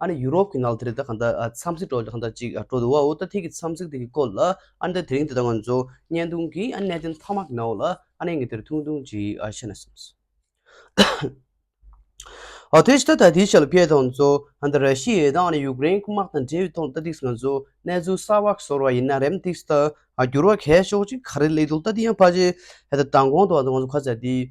ཨ་ནི་ཡུ་རོབ་ཀྱི་ནགས་དེ་རིང་ད་གང་ལྟར་འཚམས་གཟིགས་འགྲོ་འདོད་ཅིག་ཅིག་འགྲོ་འདུག་བའོ་ད་ཐིག་གི་འཚམས་གཟིགས་དེ་གི་སྐོར་ལ་ཨ་ནི་ད་དེ་རིང་དེ་ལྟ་ང་ཚོ་བརྙན་ཐུང་གི་གནད་དོན་མཐའ་དམག་གི་ནང་འོག་ལ་ཨ་ནི་ངས་དེར་ཐུང་ཐུང་ཅིག་བཤད་ན་བསམས། དེ་ཕྱི་ད་ད་དེའི་ཆ་ལ་ཕེབས་དང་ཚོ་ཨ་ནི་ར་ཤི་ཡའི་དང་ཨ་ནི་ཡུ་ཀེ་རེན་དམག་དང་འབྲེལ་བའི་ཐོག་ལ་ད་ཐིག་ང་ཚོ་གནས་ཚུལ་གསར་བ་ཤོར་བ་ཡིན་ན་རེམ་ཐིག་ད་འགྱུར་བ་གས་ཤོག་ཅིག་ག་རེ་ལེགས་འདུག་ད་དེ་ཡང་ཕ་ཆེ་ད་དང་གོང་དུ་ང་ཚོ་ཁ་ཚ་དེ།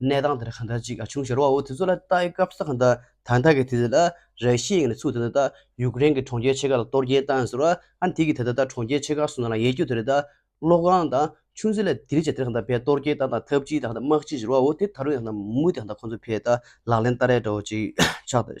གནས་སྟངས་དེར་གང་འདྲ་ཅིག་བྱུང་ཞེས་རོ་བ་བོ་དེ་ཚོ་ལ་བལྟ་སྐབས་ས་ག་ད་ད་ནྟ་གི་དེ་དེ་ལ་ར་ཤི་ཡའི་ངང་ནས་ཚུགས་དེ་ད་ད་ཡུག་རེན་གྱི་གྲོང་ཁྱེར་ཆེ་ཁག་ལ་གཏོར་རྒྱལ་བཏང་ཟེར་བ་ཨ་དེ་གི་དེ་ད་ད་གྲོང་ཁྱེར་ཆེ་ཁག་སུ་ན་ལ་ཡས་རྒྱུ་དེ་རེད་ད། གློག་ཁང་དང་ཆུ་འཛིན་ལ་དེ་རིགས་ཅིག་དེར་གང་ད་བས་གཏོར་རྒྱལ་བཏང་དང་ཐབས་ཅིག་དང་གང་ད་དམག་ཅིག་ཞེས་རོ་བ་བོ་དེ་ད་རུང་ཡང་གང་ད་མུ་མུ་དེ་གང་ད་ཁོ་ཚོ་བས་ད་ལག་ལེན་བསྟར་རེས་འདྲ་བོ་ཅིག་ཆགས་ད།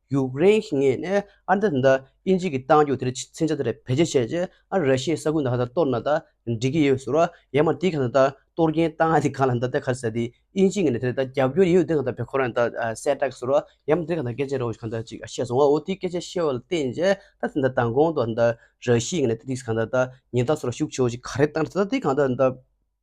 ཡུ་ཀེ་རེན་གྱི་ངོས་ནས་ཨ་མདོ་དེ་དག་ཨིན་ཇི་ཀྱི་ཏང་ཡོག་དེར་ཚིག་མཛོད་དེར་བེད་སྤྱད་བྱས་རྗེས་ཨ་ར་ཤའི་ས་ཁུལ་འདི་ག་ད་གཏོར་ན་ད་འགྲིག་གི་ཡོད་ཟེར་བ་ཡང་མ་དེ་ག་ད་གཏོར་མཁན་ཏང་ཡག་དེ་ག་ལ་འདི་ད་ག་ཟེར་དེ་ཨིན་ཇི་ངོས་ནས་དེ་ད་རྒྱབ་སྐྱོར་ཡོད་དེ་ག་ད་བེད་ཁོ་རང་ད་གསལ་བསྒྲགས་ཟེར་བ་ཡང་མ་དེ་ག་ད་སྐད་ཆ་རེ་བ་ཞིག་ག་ད་ཅིག་བཤད་སོང་བ་འོ་དེ་སྐད་ཆ་བཤད་བ་ལ་བརྟེན་རྗེས་ད་དེ་ད་མདང་དགོང་དུ་ད་ར་ཤའི་ངོས་ནས་དེ་དེ་ག་ད་ད་ཉིན་རྟགས་སུ་ར་ཞུགས་ཆོག་ཅིག་ག་རེ་བཏང་ད་དེ་ག་ད་ད།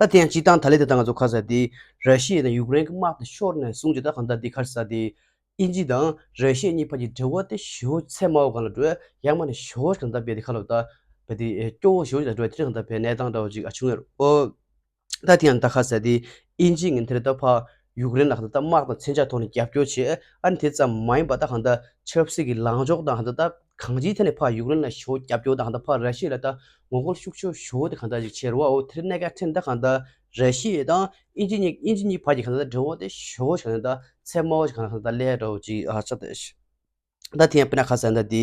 ད་དེ་ཡང་སྤྱིར་བཏང་ད་ལས་དེ་ད་ང་ཚོ་ཁ་ཟ་དེ། ར་ཤི་ཡའི་དང་ཡུཀ་རེན་གྱི་དམག་དེ་ཤོར་ནས་བཟུང་སྤྱིར་བཏང་གང་ད་དེ་ཁར་ཟ་དེ། ཨིན་ཇི་དང་ར་ཤི་ཡའི་གཉིས་བར་གྱི་འབྲེལ་བ་དེ་ཞི་ཧོ་ཚེ་མའོ་གང་ལ་འགྲོ། ཡག་མ་ནས་ཞི་ཧོ་གང་ད་བས་དེ་ཁ་ལོ་ད། བས་དེ་སྐྱོ་བོ་ཞི་ཧོ་ཅི་ད་འགྲོ་བས་དེ་རིང་གང་ད་བས་གནས་སྟངས་འདྲ་བ་ཅིག་ཨ་བྱུང་ཡ་རོ། ད་དེ་ཡང་ད་ཁ་ཟ་དེ། ཨིན་ཇི་ངན་དེར་ད་ཕ། ཡུཀ་རེན་ལ་གང་ད་དམག་དང་མཚོན་ཆ་ཐོག་ནས་རྒྱབ་སྐྱོར་བྱེད། ཨ་ནི་དེ་ཙམ་མ་ཡིན་པ་ད་གང་ད། ཆབ་སྲིད་ཀྱི་ལངས་ཕྱོགས་དང་གང་ད་ད། གང་ཅིའི་ཐད་ནས་ཕག་ཡུཀ་རེན་ལ་ཞོ་རྒྱབ་སྐྱོར་དང་ད་ཕག་ར་ཤི་ལ་ད་ངོ་རྒོལ་ཤུགས་ཆོད་ཞོ་དེ་གང་འདྲ་ཞིག་བྱེད་རུ་བའོ་དེར་གནད་ཀ་ཕྲན་ད་གང་ད་ར་ཤི་ཡེ་དང་ཨིན་ཇི་ཉིག་ཨིན་ཇི་ཉིག་བར་གྱི་གང་ད་འབྲེལ་བ་དེ་ཞོ་ཞིག་གང་ད་ཚད་དམའ་བ་ཞིག་གང་ད་ད་ལས་རོ་ཅི་ཨ་ཅག་ད་ཤི། ད་དེ་ཡང་པེ་ན་ཁ་སེ་ད་དེ་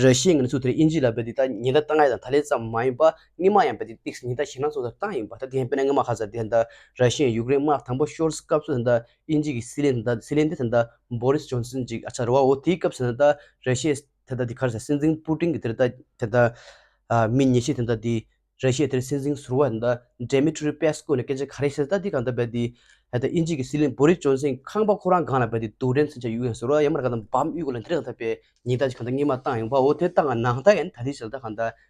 ར་ཤི་ཡེ་ངེད་ཚོ་དེར་ཨིན་ཇི་ལ་བས་དེ་ད་ཉི་ད་ད་ང་ཡི་དང་ད་ལས་ཙམ་མ་ཡིན་པ་ངེད་མ་ཡང་བས་དེ་ཏིག་སི་ཉི་ད་ཞིང་ནང་ཚོ་དེར་ཏང་ཡིན་པ་ད་དེ་ཡང་པེ་ན་ངེད་མ་ཁ་སེ་དེ་ད་ར་ཤི་ཡེ་ཡུཀ་རེན་དམག་དང་པོ་ཤོར་སི་སྐབས་སུ་དེ་ད་ཨིན་ཇི་གི་སི་ལེན་དེ་སི་ལེན་དེ་ད་བོ་རིས་ཇོན་སིན་གྱི་ཨ་ཅག་རེད་བ་འོ་དེའི་སྐབས་ད་རེ་ཤེ་དེ་ད་དེ་ག་རེ་ཟེར་སྲིད་འཛིན་པུ་ཀྲིན་གྱི་དེ་རེད་ད་དེ་ད་མི་ཉེ་ཤེ་དེ་ད་དེ་རེ་ཤེ་དེ་སྲིད་འཛིན་ཟུར་བ་དེ་ད་འདྲེ་མི་ཀྲུ་རི་པེ་སི་ཀོ་ནས་སྐད་ཆ་ག་རེ་བཤད་ད་དེ་གང་ད་བེད་དེ་ད་ཨིན་ཇི་གི་སི་ལེན་བོ་རིས་ཇོན་སིན་ཁང་པ་ཁོ་རང་གང་ལ་བེད་དེ་དུག་འདྲེན་སེ་ཆ་ཡུག་ཡང་ཟུར་བ་ཡ་མར་ག་ད་འབམ་དབུས་གོ་ལ་འདྲེ་གང་ད་བེད་ཉིན་ད་ཅི་གང་ད་སྔིན་མ་བཏང་ཡོང་བ་འོ་དེ་བཏང་ང་ནང་ད་ཡན་ད་དེ་བྱེད་ད་གང་ད།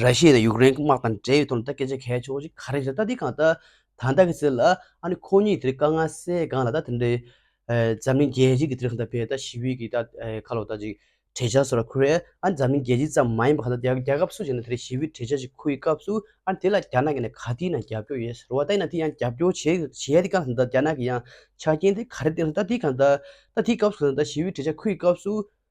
ར་ཤི་ཡས་ནས་ཡུཀ་རེན་དམག་དང་འབྲེལ་ཡོད་དོ་ན་ད་སྐད་ཆ་གལ་ཆེ་བོ་ཞིག་ག་རེ་རེད་ད་འདི་གང་ད་ད་ལྟ་གི་ཚེ་ལ་ཨ་ནི་ཁོ་གཉིས་དེ་ག་ང་སའི་སྒང་ལ་ད་དེ་འདྲའི་འཛམ་གླིང་རྒྱལ་སྤྱི་གི་དེ་རིང་ད་བལ་ད་ཞི་བི་གི་ད་ཁ་ལོ་ད་ཅིག་བྲེ་ཆག་སོ་ར་ཁུ་རེ་ཨ་ནི་འཛམ་གླིང་རྒྱལ་སྤྱི་ཙམ་མ་ཡིན་པ་ག་ད་རྒྱ་རྒྱ་ཁབ་སུ་ཞིག་ནས་དེ་རི་ཞི་བི་བྲེ་ཆག་ཅིག་ཁུ་ཡི་སྐབས་སུ་ཨ་ནི་དེ་ལ་རྒྱ་ནག་གི་ནས་ག་དེའི་ནང་རྒྱབ་སྐྱོར་ཡོད་ཟེར་བ་ད་ཡིན་ན་དེ་ཡང་རྒྱབ་སྐྱོར་བྱེད་བྱེད་ཡ་དེ་གང་ད་རྒྱ་ནག་གི་ཡང་ཆ་རྐྱེན་དེ་ག་རེ་བསྟན་ད་འདི་གང་ད་ད་དེའི་སྐབས་སུ་ད་ཞི་བི་བྲེ་ཆག་ཁུ་ཡི་སྐབས་སུ་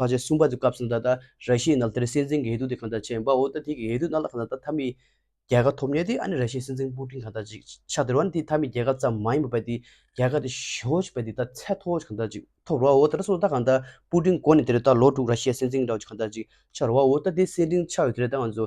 བར་ཆད་གསུམ་པ་དེ་སྐབས་སུ་ད་ལྟ་ར་ཤི་ཡའི་ནང་དེར་སྲིད་འཛིན་གྱི་འོས་བསྡུ་དེ་གང་ལྟར་བྱས་འབའ་འོ་ད་དེ་གི་འོས་བསྡུ་ནང་ལ་གང་ལྟར་ད་མཐའ་མི་རྒྱལ་ཁ་ཐོབ་ཉེ་དེ་ཨ་ནི་ར་ཤི་ཡའི་སྲིད་འཛིན་པུ་ཏིན་གང་ལྟར་ཅིག་ཆགས་འདིར་བ་ནི་དེ་མཐའ་མི་རྒྱལ་ཁ་ཙམ་མ་ཡིན་པ་བས་དེ་རྒྱལ་ཁ་དེ་ཞོ་ཞིག་བས་དེ་ད་ཚད་མཐོ་བོ་ཞིག་གང་ལྟར་ཅིག་ཐོབ་རོ་བ་འོ་ད་ར་སོ་ད་གང་ལྟར་པུ་ཏིན་གོ་ནི་དེར་ད་ལོ་དྲུག་ར་ཤི་ཡའི་སྲིད་འཛིན་འདྲ་བོ་ཅིག་གང་ལྟར་ཅིག་ཆགས་རོ་བ་འོ་ད་དེ་སྲིད་འཛིན་ཆགས་ཡོད་དེ་ར་ད་ང་ཚོ་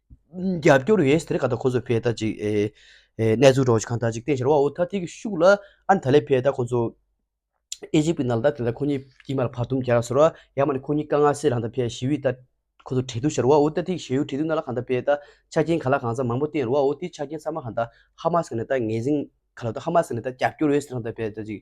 རྒྱབ་སྐྱོར་ཡོན་སྡེར་ག་ད་ཁོ་ཚོ་བས་ད་ཅིག་གནས་ཚུལ་རོགས་གང་ད་ཅིག་བསྟན་ཤར་བ་འོ་ད་ཐིག་གི་ཤུགས་ལ་ཨ་ད་ལས་བས་ད་ཁོ་ཚོ་ཨེ་ཇིབ་གི་ནང་ད་དེ་ད་ཁོ་གཉིས་དཀྱིལ་མར་བར་དུམ་གྱར་ཟེར་བ་ཡ་མ་ནི་ཁོ་གཉིས་ཀ་ང་སེ་རང་ད་བས་ཞི་བའི་ད་ཁོ་ཚོ་བྲེལ་འདུག་ཤར་བ་འོ་ད་ཐིག་ཞེ་ཡུ་བྲེལ་འདུག་ན་ལ་གང་ད་བས་ད་ཆ་རྐྱེན་ག་ལ་གང་ཚ་མང་པོ་བསྟན་རུ་བ་འོ་དེ་ཆ་རྐྱེན་ཚ་མ་གང་ད་ཧ་མ་སི་ག་ནས་ད་ངེས་ཟིན་ག་ལ་ད་ཧ་མ་སི་ག་ནས་ད་རྒྱབ་སྐྱོར་ཡོན་སྡེར་གང་ད་བས་ད་ཅིག།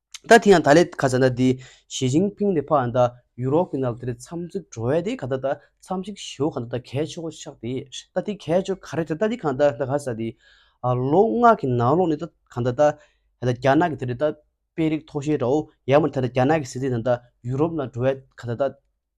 ད་དེ་ཡང་ད་ལས་ཁ་ཚ་ད་དེ་ཞི་ཅིང་ཕིང་ལས་ཕག་ཡང་ད་ཡུ་རོབ་ཀྱི་ནང་དེ་རེ་འཚམས་གཟིགས་འགྲོ་བས་དེ་ག་ད་ད་འཚམས་གཟིགས་ཞེའོ་ག་ད་ད་གས་ཆོག་ཆགས་དེ་ད་དེ་གས་ཆོག་ག་རེ་ད་ད་དེ་གང་ད་ད་ག་ས་དེ་ལོ་ལྔ་གི་ནང་ལོགས་ནས་ད་གང་ད་ད་ད་རྒྱ་ནག་གི་དེ་རེ་ད་དཔེ་རིགས་ཐོག་ཤེས་དྲའོ་ཡར་མར་ད་རྒྱ་ནག་གི་སྲིད་འཛིན་དང་ད་ཡུ་རོབ་ནང་འགྲོ་བས་ག་ད་ད།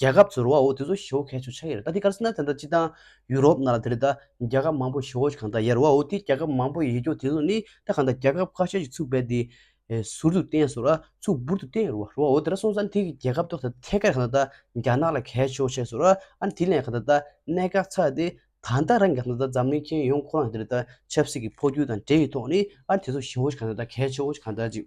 རྒྱལ་ཁབ་ཚོར་བ་འོ་དེ་ཚོ་ཞི་བོ་གས་ཆོ་ཆ་ཡེར་ད་དེ་ཀར་སི་ན་དེ་འདྲ་སྤྱི་དང། ཡུ་རོབ་ན་ལ་དེ་རི་ད་རྒྱལ་ཁབ་མང་པོ་ཞི་བོ་གང་ད་ཡེར་བ་འོ་དེ་རྒྱལ་ཁབ་མང་པོ་ཡེར་རྒྱོ་དེ་ཚོ་ནི་ད་གང་ད་རྒྱལ་ཁབ་ཁ་ཤས་ཞིག་ཚུགས་པས་དེ། ཟུར་དུ་བསྟན་སོ་ར་ཚུགས་འབུར་དུ་བསྟན་ཡེར་བ་རོ་འོ་དེ་ར་སོང་ས་ནི་དེ་གི་རྒྱལ་ཁབ་ཏོག་ད་ཐད་ཀར་གང་ད་རྒྱ་ནག་ལ་གས་ཆོ་ཆས་སོ་ར་ཨ་ནི་དེ་ལས་གང་ད་ད་གནད་འགག་ཚགས་དེ་ད་ད་རང་གི་གང་ད་ད་འཛམ་གླིང་མཁྱེན་ཡོང་ཁོ་རང་གི་དེ་རི་ད་ཆབ་སྲིད་ཀི་འཕོ་འགྱུར་དང་འབྲེལ་ཡི་ཐོག་ནི་ཨ་ནི་དེ་ཚོ་ཞི་བོ་ཞིག་གང་ད་ད་གས་ཆོ་ཆ་གང་ད་ཅིག།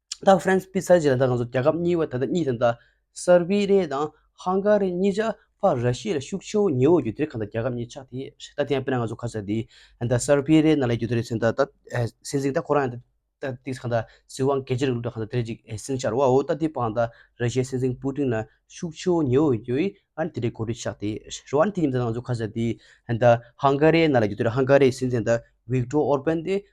ད་ཧྥ་རན་སི་པི་ཚ་ཇི་ལ་དྭགས་ང་ཚོ་རྒྱལ་ཁབ་གཉིས་བར་ད་ལྟ་གཉིས་དང་ད་སར་བི་རེ་དང་ཧང་ག་རི་གཉིས་ཆགས་ཕ་ར་ཤི་ཡ་ལ་ཤུགས་ཆེའོ་ཉེའོ་རྒྱུ་དེ་རེད་ཁ་ད་རྒྱལ་ཁབ་གཉིས་ཆགས་དེ་རེད་ད་དེ་ཡང་དཔེར་ན་ང་ཚོ་ཁ་ཚ་དེ་ད་སར་བི་རེ་ན་ལ་རྒྱུ་དེ་རེད་ཚེ་ད་ད་སྲིད་འཛིན་ད་ཁོ་རང་ཡང་ད་དེ་ཁ་ད་སྲིད་དབང་གལ་ཆེ་རུ་འགྲོ་ཁ་ད་དེ་རེད་ཅིག་སྲིད་འཆར་བའོ་ད་དེ་པང་ད་ར་ཤི་ཡའི་སྲིད་འཛིན་པུ་ཏིན་ལ་ཤུགས་ཆེའོ་ཉེའོ་རྒྱུ་ཨི་ཨ་རི་དེ་རེད་གོ་རེ་ཆགས་དེ་རེད་རོ་ཨ་རི་དེ་ཉིན་ད་ང་ཚོ་ཁ་ཚ་དེ་ད་ཧང་ག་རེ་ན་ལ་རྒྱུ་དེ་རེད་ཧང་ག་རི་སྲིད་འཛིན་ད་བྷིག་ཏྲོ་ཨོར་པན་དེ་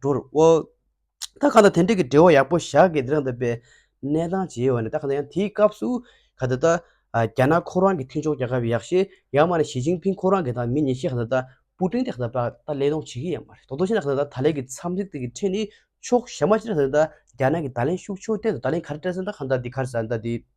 འགྲོ་རུ་འོང། ད་གང་ལྟར་དེ་འབྲེལ་གྱི་འབྲེལ་བ་ཡག་པོ་བཞག་གི་འདི་རང་འདོད་པའི་གནས་སྟངས་བྱས་ཡོད་པ་ནི་ད་གང་ལྟར་ཡང་དེའི་སྐབས་སུ་ག་ད་ལྟ་རྒྱ་ནག་ཁོ་རང་གི་མཐུན་ཕྱོགས་རྒྱལ་ཁབ་ཡག་ཤེས་ཡང་མ་ནི་ཞི་ཅིང་ཕིང་ཁོ་རང་གི་དང་མི་ཉེ་ཤེས་ག་ད་ལྟ་པུ་ཀྲིན་དེ་ག་ད་ད་ལྟ་ལས་གཏོང་བྱེད་ཀྱི་ཡང་མ་རེད་དོག་དོག་ཤེས་ན་ག་ད་ལྟ་ད་ལན་གྱི་འཚམས་གཟིགས་དེ་གི་འཕྲེད་ནི་ཕྱོགས་ཞྭ་མ་ཅི་རེད་ག་ད་ལྟ་རྒྱ་ནག་གི་ད་ལན་ཤུགས་ཕྱོགས་སྟེང་དུ་ད་ལན་ག་རེ་སྤྲད་ཟིན་ད་གང་ལྟར་འདི་ག་རེ་ཟ་འདི།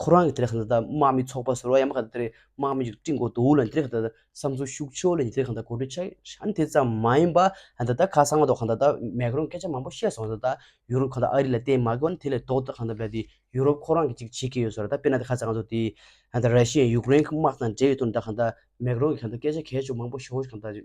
ཁོ་རང་གི་དེ་རེ་ཁང་དང་དམག་མི་ཚོགས་པ་ཟེར་བ་ཡང་མ་ག་དེ་རེ་དམག་མི་ཡིག་བྲིས་འགོ་དུ་ལ་དེ་རེ་ཁང་དང་བསམ་ཚུལ་ཤུགས་ཆོས་ལ་དེ་རེ་ཁང་དང་གོ་སྒྲིག་ཆ་ཤ་དེ་ཙམ་མ་ཡིན་པ་ད་ལྟ་ཁ་སང་མ་གཏོགས་ཁང་དང་མེ་ཀི་རོང་སྐད་ཆ་མང་པོ་བཤད་སོང་ད་ལྟ་ཡུ་རོབ་ཁང་དང་ཨ་རི་ལ་བལྟས་མ་གོ་ན་དེ་ལས་ལྡོག་ཏུ་ཁང་དང་བལྟས་དེ་ཡུ་རོབ་ཁོ་རང་གི་ཅིག་བྱེད་ཀྱི་ཡོད་ཟེར་བ་ད་དཔེར་ན་ཁ་ཚང་ང་ཚོ་དེ་ར་ཤི་ཡན་ཡུག་རེན་དམག་དང་འབྲེལ་ཡོད་དོན་དང་ཁང་དང་མེ་ཀི་རོང་གི་ཁང་དང་སྐད་ཆ་གས་ཆོ་མང་པོ་ཤོང་ཤོག་ཁང་དང།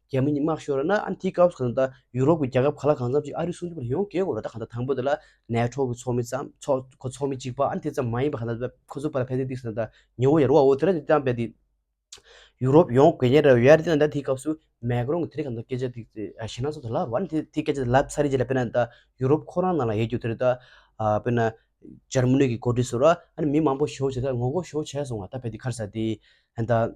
རྒྱ་མི་གཉིས་དམག་ཤོར་ན་ཨ་དེའི་སྐབས་སུ་གང་ལྟར་ཡུ་རོབ་ཀྱི་རྒྱལ་ཁབ་ག་ལ་གང་འཚམ་ཞིག་ཨ་རིའི་སྲུང་སྐྱོབ་ལ་ཡོང་དགོས་དགོས་རེད་ད་གང་ལྟར་དང་པོ་དེ་ལ་ནེ་ཏྲོ་གི་ཚོགས་མི་ཙམ་ཚོགས་ཁོ་ཚོགས་མི་གཅིག་པ་ཨ་དེ་ཙམ་མ་ཡིན་པ་གང་ལྟར་ཁོ་ཚོའི་བར་ལ་ཕན་ཚུན་གཏིང་ཟབ་དང་ཉི་འོད་ཡར་བའོ་དེ་ར་དེ་བཏང་པས་དེ་ཡུ་རོབ་ཡོང་དགོས་ངེས་རེད་ཨ་རི་དེ་ལ་ད་དེའི་སྐབས་སུ་མེ་ཀི་རོང་གི་དེ་རིང་གང་ལྟར་སྐད་ཆ་དེ་གཞི་སྣ་ཚོགས་དེ་ལབ་རོགས་ཨ་དེ་དེའི་སྐད་ཆ་དེ་ལབ་ཚར་རྗེས་ལ་དཔེར་ན་ད་ཡུ་རོབ་ཁོ་རང་ནང་ལ་ཡལ་རྒྱུ་དེ་རེད་ད་དཔེར་ན་འཇར་མ་ནི་གི་གོ་སྒྲིག་སུ་ར་ཨ་ནི་མི་མང་པོ་ཞོགས་བྱས་ད་ངོ་རྒོལ་ཞོགས་བྱས་སོང་ང་ད་ཕེབས་དེ་ཁར་ཟ་དེ་ད།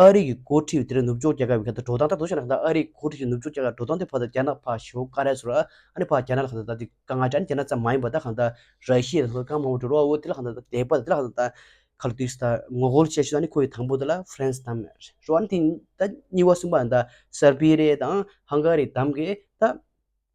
ཨ་རིག་གི་འགོ་ཁྲིད་དེར་ནུབ་ཕྱོགས་རྒྱལ་ཁབ་ཀྱི་ཁ་ཐག་འགྲོ་སྟངས་ལྟར་དུ་བཤད་ན་ཨ་རིག་གི་འགོ་ཁྲིད་ཀྱིས་ནུབ་ཕྱོགས་རྒྱལ་ཁབ་འགྲོ་སྟངས་དེ་བར་དུ་རྒྱ་ནག་ཕར་ཞོག་ཀ་རེ་ཟོ་ར་ཨ་རི་ཕར་རྒྱ་ནག་ལ་ཁ་ཐག་ད་དེ་ག་ང་ཅག་ནི་རྒྱ་ནག་ཙམ་མ་ཡིན་པར་ད་ཁ་ཐག་ར་ཤི་ཡའི་ནང་དུ་གང་མང་པོ་འགྲོ་རོགས་འོ་དེ་ལ་ཁ་ཐག་ད་དེ་བར་དུ་དེ་ལ་ཁ་ཐག་ད། ཁ་ལོ་དུས་ད་ངོ་རྒོལ་བྱེད་ཤུགས་ད་ནི་ཁོ་ཡི་དང་པོ་དེ་ལ་ཧྥ་རན་སི་དང་རེད་རོགས་ཨ་རི་དེ་ད་གཉིས་བ་གསུམ་པ་ད་སར་བྷི་རེ་དང་ཧང་ག་རི་དམ་གི་ད།